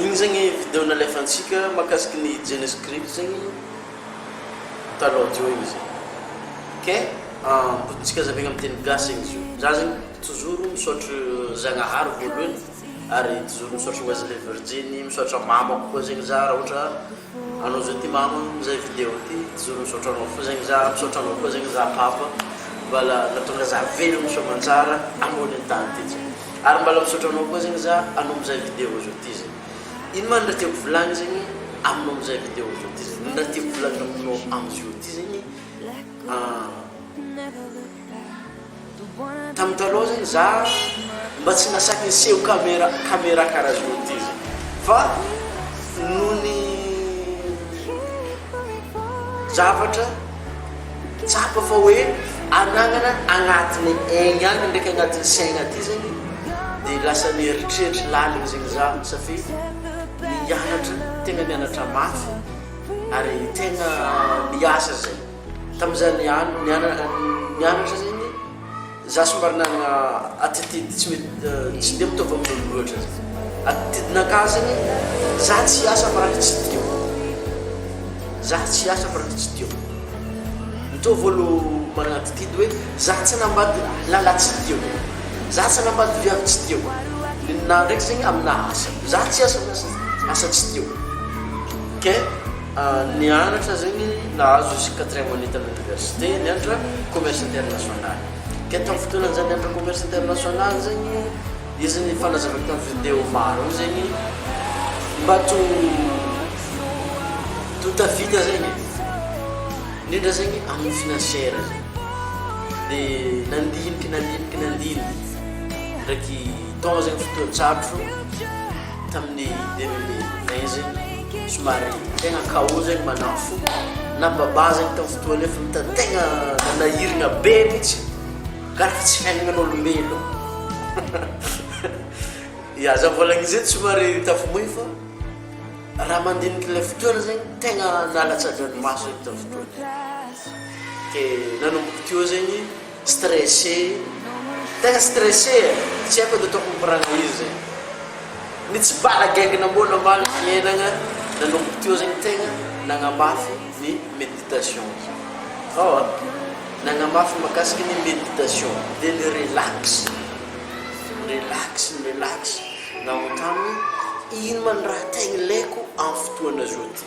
Igny zegny video nalefantsika makasiky ny Genescript zegny talon teo igny zay. Ok ahh botintsika azavegny am teny gasy zegny izy io. Za zegny tozoro misaotry Zagnahary voalohany ary tozoro misaotry Wesley Virjiny, misaotra mamako koa zegny za ra ohatra Anao zao ty mamo am zay video ty zoro misaotra anao fo zegny za misaotra anao koa zegny za papa mbala natonga za velogno soamantsara ambonin tany ty zao ary mbala misaotra anao koa zegny za anao mizay video zao ty zay ino ma ny raha tiako volagny zegny aminao mizay video zao ty zay ny raha tiako volagny aminao amizio ty zegny ahh. Tamin'ny taloha zany za mba tsy nasaky niseho camera camera karaha zao ty zany fa noho ny zavatra tsapa fa hoe anagnana agnatiny egny agny ndraiky agnatin'ny saigna aty zegny de lasa nieritreritra laligny zegny za safidy ny hianatra tegna nianatra mafy ary tegna miasa zay. Tamin'izany andro nianatra izany, izaho somary nanana attitude tsy mety, tsy dia mitovy amin'olo loatra. Attitude nankany izany, izaho tsy hiasa fa raha ny tsy tiako. Izaho tsy hiasa fa raha ny tsy tiako. Mitovy olo manana attitude hoe izaho tsy hanambady lahy tsy tiako, izaho tsy hanambady viavy tsy tiako. Ny ninahy ndraiky izany amina asa, izaho tsy hiasa amin'ny asa tsy tiako. Ok? Nianatra zegny nahazo izy quatrième année tamy université nianatra commerce international. Ke tamy fotoana zany nianatra commerce international zegny izy ny fanazavany tamy video maro ao zegny mba to to tafita zegny e. Indrindra zegny amy financière zegny. De nandiniky nandiniky nandiniky ndraiky tao zegny fotoan-tsarotro. Tamin'ny deux mille vingt zegny, somary tegna chaos zegny manako fo, na babà zegny tamin'ny fotoana io fa mitady tegna nanahiragna be mihitsy, angaha efa tsy fiaignan'olombelogno. Ya, za vao lagnizay somary tafamoy fa raha mandiniky le fotoana zegny tegna nalatsadagn'maso tamin'ny fotoana io, de nanomboka teo zegny. Stressé, tegna stressé e! Tsy haiko edy ataoko mikoragna izy e! Ny tsy balagaigna mbô namaly fiainagna nanomboka teo zegny tegna nagnamafy ny méditation-ko. Ao a! Nagnamafy mahakasiky ny méditation dia ny relax, relax, mi-relax nanontany hoe ino ma ny raha tegna ilaiko amin'ny fotoagna zao ty?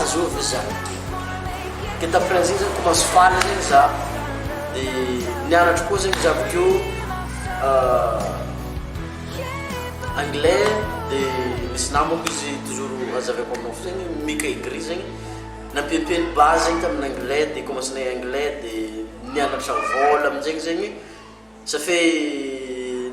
Azoo ve za miteny de tamin'ny fran zay zany ko mahazo faly zegny za de nianatro koa zegny za avekeo anglais de nisy namako izy toujours azavaiko aminao fo zegny mika et gris zegny nampiampi ny base zegny tamin'ny anglais de commence nay anglais de nianatra vôla aminjegny zegny ça fait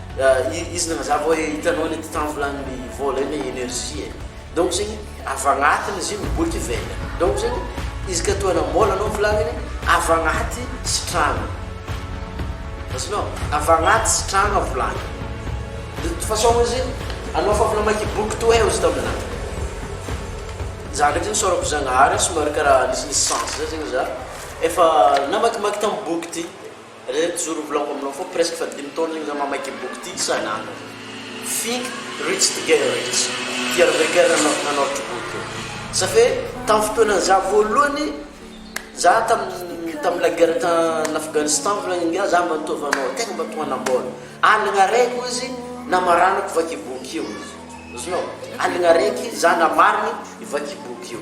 Izy nanazava hoe hitanao le titan volagnin'ny vôla iny energie e donc zegny avy agnatiny izy io miboaka ivelany donc zegny izy ka toa namôla anao volagniny avy agnaty sitragna azonao avy agnaty sitragna volagny de toute façon izy anao fa avy namaky boky toa eo izy taminà za ndraiky zegny saorako zagnahary somary karaha nisinisy sens zay zegny za efa namakimaky tamin'ny boky ty Re mijoro ho vlog aminao foa presque efa dimy taona igny za mamaky boky ty tsy sahinareo Think rich together rich ty Harvey Kern no nanortry boky io ça fait tam fotoana za voalohany za tam tam la guerre tam Afghanistan volagny ingahy za mba nitaovy anao tegna mba to hanambola aligna araiky hoy izy namaranako vaky boky io izy azonao aligna araiky za namarigny vaky boky io.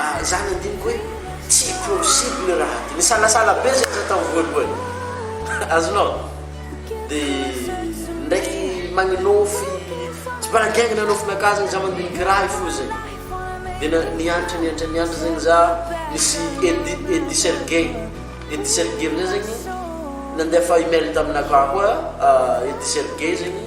Ary zany andiniko hoe tsy possible raha ty. Nisalasala be zay za tao voalohany. Azonao? De ndraiky magnonofy tsy mbola niaingny nanofin'akà zegny za mandiniky raha i fo zegny. De na- niantra niantra niantra zegny za nisy Eddy Eddy Sergey Eddy Sergey am'zay zegny nandefa email taminakà koa Eddy Sergey zegny.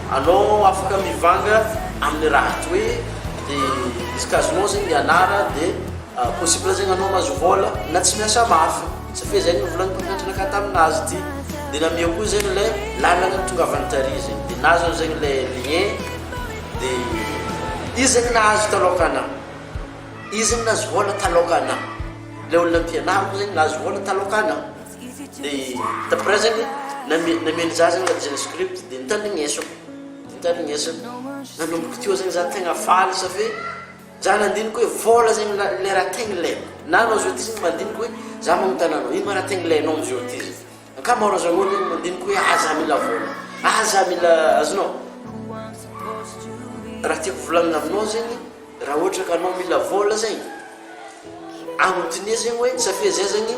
Anao afaka mivanga aminy raha ato hoe de misy casino zegny mianara de possible zegny anao mahazo vola na tsy miasa mafy satria zay novolagny mpampianatra anakah taminazy ty de nameo koa zegny le lalagna nitongavany tary zegny de nahazo anzegny le lien de izy zegny nahazo taloha ka ana izy zegny nahazo vola taloha ka ana le olona mpianariko zegny nahazo vola taloha ka ana. Dia the present namia ny zaza ilay design script dia nitandrigneso dia nitandrigneso nanomboka teo zegny za tegna faly sa fe za nandinika hoe vôla zegny ilay raha tegna ilaina na anao zao ty zegny mandinika hoe za magnontana anao ino ma raha tegna ilainao amizao ty zegny ankamaroan'izany olo zegny mandinika hoe ah za mila vôla ah za mila azonao raha tiako volagnina aminao zegny raha ohatra ka anao mila vôla zegny agnontania zegny hoe sa fe zay zegny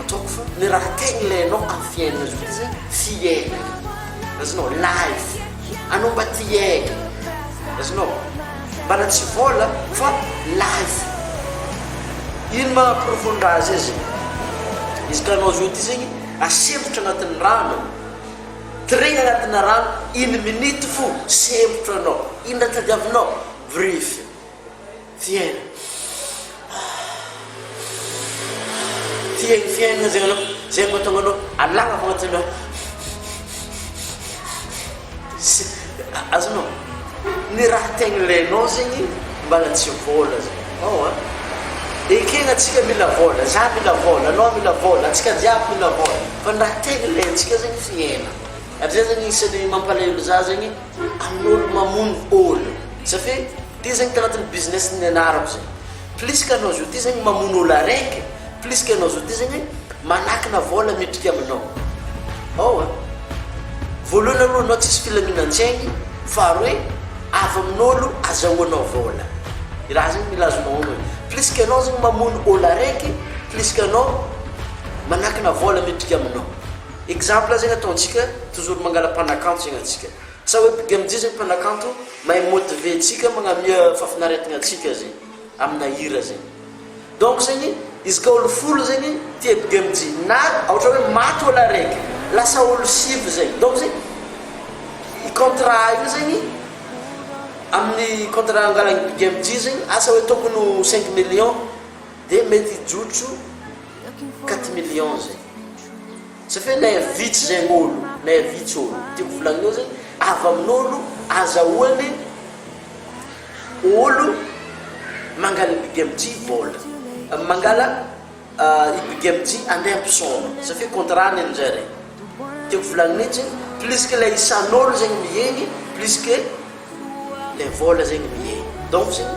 Ataoko fa le raha tegny ilainao am fiainana zao de zay fiainana azonao life anao mba ty hiaigna azonao mbana tsy vôla fa life ino ma profo ny raha zay zegny izy ka anao zao ty zegny asembotra agnatin'ny rano tiregny agnatina rano une minute fo sembotra anao ino raha tadiavinao vrify Fiaina ah Fiaigno fiaigno zay anao zay mahatonga anao alàgna avy agnatin'ny ah sy azonao ny raha tegna ilainao zegny mbala tsy vôla zay ao a ekena antsika mila vôla za mila vôla anao mila vôla antsika jiaby mila vôla fa ny raha tegna ilaintsika zegny fiaina ary zay zegny isan'ny mampalahelo za zegny amin'olo mamono ôlo satria Ty zegny tanatin'ny business ny nianarako zay. Plus que anao zoti zegny mamono olo araiky, plus que anao zoti zegny manakina vola midrika aminao. Ao a. Voalohany aloha anao tsisy filaminan-tsaigny, faharoe avy amin'olo azahoanao vola. I raha zegny mila azonao onony. Plus que anao zegny mamono olo araiky, plus que anao manakina vola midrika aminao. Exemple zegny ataontsika, toujours mangala mpanakanto zegny antsika. Sa hoe big MJ zay mpanakanto mahay motiver antsika magnamia fafinaretagna antsika zay amina hira zay donc zegny izy ka olo folo zegny tia big MJ na aotra hoe maty olo araiky lasa olo sivy zegny donc zegny i contrat io zegny aminy contrat angalagny big MJ zegny asa hoe tokony ho cinq millions de mety hijotso quatre millions zay. Ça fait nair vitsy zegny olo, nair vitsy olo, tiako volagninao zegny avy amin'olo azahoany olo mangala i Big MJ vola, mangala i Big MJ andeha ampisaoma, ça fait contrat-ny amin'izay re, tiako volagny mintsy, plus que ilay isan'olo zegny mihegny, plus que. Ilay vol zegny mihehy donc zegny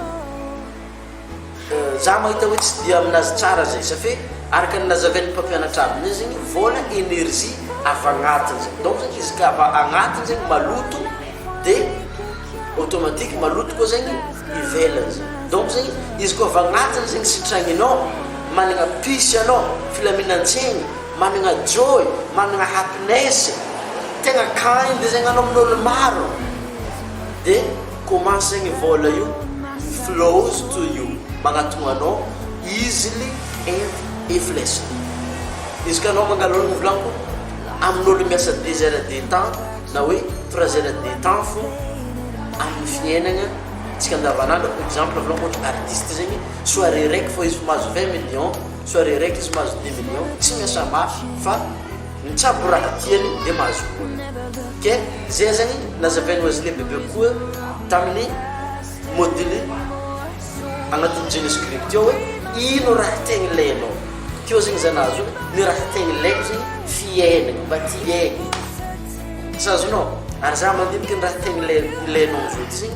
za mahita hoe tsy dia aminazy tsara zay safe araka ny nazaven'ny mpampianatra azy mintsy zegny vol energie avy agnatiny zegny donc zegny izy ka avy agnatiny zegny maloto de automatique maloto koa zegny ivelany zegny donc zegny izy koa avy agnatiny zegny sitragninao managna pisy anao filaminan-tsaigny Managna joy, managna happiness, tegna kind zegny anao amin'olo maro de comment zegny vôla io flows to you, magnatogno anao easily and eflessly. Izy ka anao mangalonigny volagniko amin'olo miasa deux heures de temps na hoe trois heures de temps fô amin'ny fiainagna tsika andavanandro exemple volagniko ôhatra artiste zegny soirée raiky fô izy mahazo vingt millions, Soirée raiky izy mahazo dix millions tsy miasa mafy fa mitsabo raha tiany dia mahazo vola ok zay zany nazavain'i Wesley Bebe koa tamin'ny module agnatin'ny Genesis Crypte ao hoe ino raha tegna ilainao teo zegny za nahazo hoe ny raha tegna ilaiko zegny fiainagna mba ty hiaigny sa azonao ary za mandinika ny raha tegna ilai- ilainao amin'izao ty zegny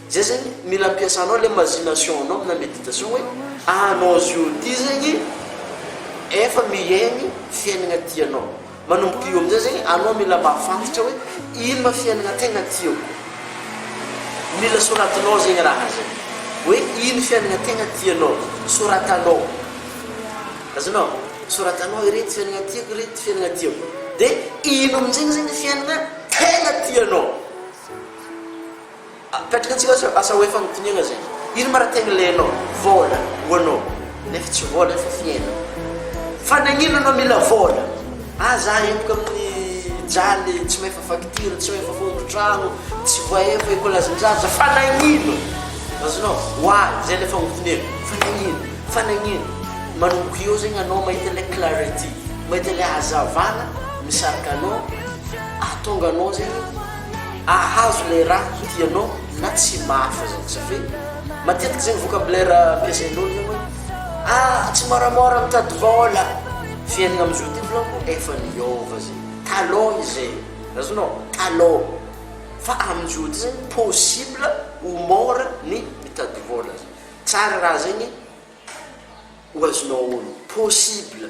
Zay zegny mila ampiasanao le mazination anao amina meditation hoe anao zio ty zegny efa miaigny fiaignana tianao manomboka io amizay zegny anao mila mahafantatra hoe ino ma fiaignana tegna tiako mila soratinao zegny raha zay hoe ino fiaignana tegna tianao soratanao azonao soratanao irety fiaignana tiako irety fiaignana tiako de ino amizegny zegny fiaignana tegna tianao Apetraka antsika aza asa hoe fanotiniana zay. Ino ma ra tegna ilainao? Vôla ho anao. Nefa tsy vôla fa fiainana. Fa nagnino anao mila vôla? Ah za eboka amin'ny jaly tsy mahefa facture, tsy mahefa fondro-tragno, tsy voahefa ekolazin-jaza fa nagnino? Azonao? Why? Zay le fagnotiniana. Fa nagnino? Fa nagnino? Manomboka eo zegny anao mahita le clarity, mahita le hazavana misarika anao ahatonga anao zegny. ahazo le raha tianao na tsy mafy zany satria matetiky zegny vocabulaire ampiasain'olo zegny hoe ah tsy môramôra mitady vôla fiaignana amizao ty vôlako efa niôva zay talon izay azonao talon fa amizao ty zegny possible ho môra ny mitady vôla zany tsara raha zegny ho azonao onony possible.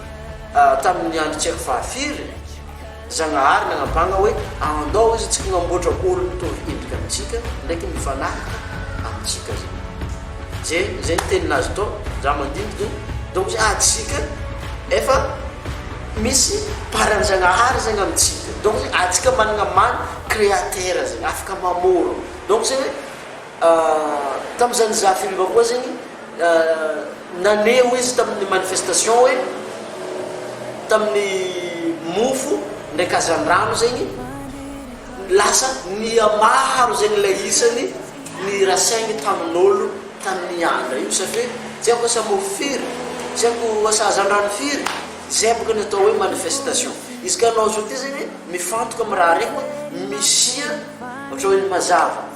Tamin' ny andro tsy haiko fahafiry, Zagnahary nagnampàgna hoe, Andao izy tsy hnamboatra olo mitovy endrika amintsika, ndraiky mifanahaka amintsika zay. Ze, zay ny tenin'Azy tao, ndra mandindiky, donc zay atsika efa misy paran'i Zagnahary zegny amintsika, donc zay atsika managna maha Créateur zegny, afaka mamôro, donc zay hoe, Tamin'izany Zafiriva koa zegny naneho izy tamin'ny manifestation hoe tamin'ny mofo ndraiky hazandrano zegny lasa nihamaro zegny ilay isany ny rasaigny tamin'olo tany Miandra io satria tsy haiko asa mofo firy, tsy haiko asa hazandrano firy, zay bôka ny atao hoe manifestation. Izy ka anao zao ty zegny mifantoka amin'ny raha raiky hoe misia ohatra hoe ny mazava.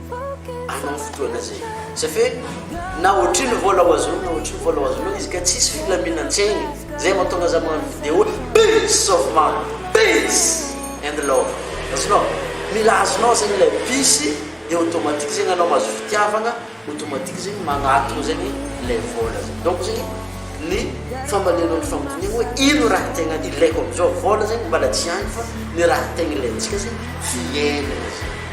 Amin'iny fotoana izay. Ça fait na ohatrin'ny vola ho azonao na ohatrin'ny vola ho azonao izy ka tsisy filaminan-tsaigny. Zay mahatonga za magnano video peace of mind, peace and love. Azonao? Mila azonao zegny ilay peace dia automatique zegny anao mahazo fitiavagna, automatique zegny magnatogno zegny ilay vola zay. Donc zegny ny fambalianao ny fagnotaniagna hoe ino raha tegna ilaiko am'zao? Vola zegny mbala tsy agny fa ny raha tegna ilaintsika zegny fiaignana zegny.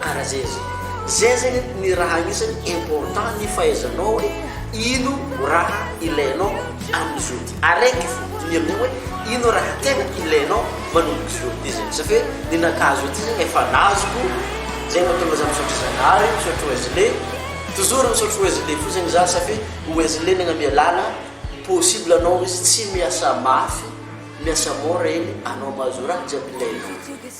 Ara zeza. Zay zegny ny raha agnisany important ny fahaizanao hoe ino raha ilainao aminy zao ty. Araiky fô ny aminay hoe ino raha tegna ilainao manomboka zao ty zegny. Satria hoe ninakà zao ty zegny efa nazoko. Zay mahatonga za misaotra Zagnahary, misaotra Wesley. Toujours misaotra Wesley fô zegny za satria Wesley nagnamia lala possible anao izy tsy miasa mafy, miasa mora egny anao mahazo raha jiaby ilainao.